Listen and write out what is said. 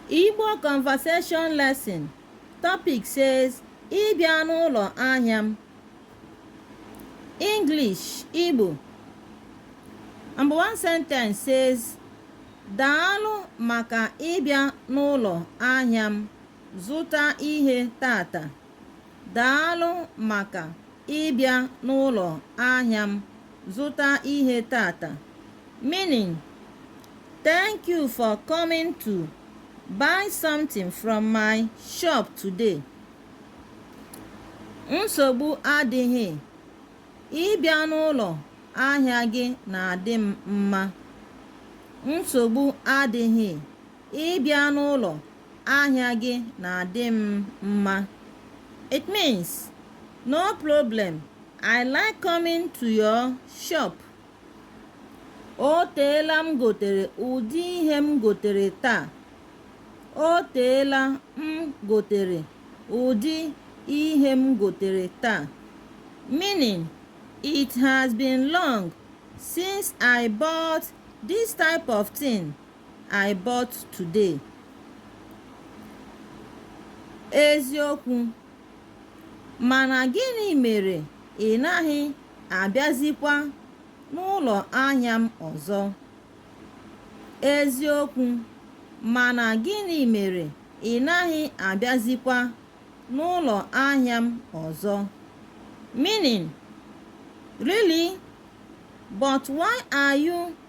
Igbo conversation lesson topic says ịbịa n'ụlọ ahịa m English Igbo number one sentence says daalụ maka ịbịa n'ụlọ ahịa m zụta ihe taata daalụ maka ịbịa n'ụlọ ahịa m zụta ihe taata meaning thank you for coming to buy something from my shop today nsogbu adịghị ịbịa n'ụlọ ahịa gị na-adị m mma nsogbu adịghị ịbịa n'ụlọ Ahịa gị na-adị m mma. It means, no problem, I like coming to your shop. O teela m gotere ụdị ihe m gotere taa. O teela m gotere ụdị ihe m gotere taa. Meaning, it has been long since I bought this type of thing. I bought today. Eziokwu. Mana gịnị mere ị naghị abịazikwa n'ụlọ ahịa m ọzọ? Eziokwu. Mana gịnị mere ị naghị abịazikwa n'ụlọ ahịa m ọzọ? Meaning, really? But why are you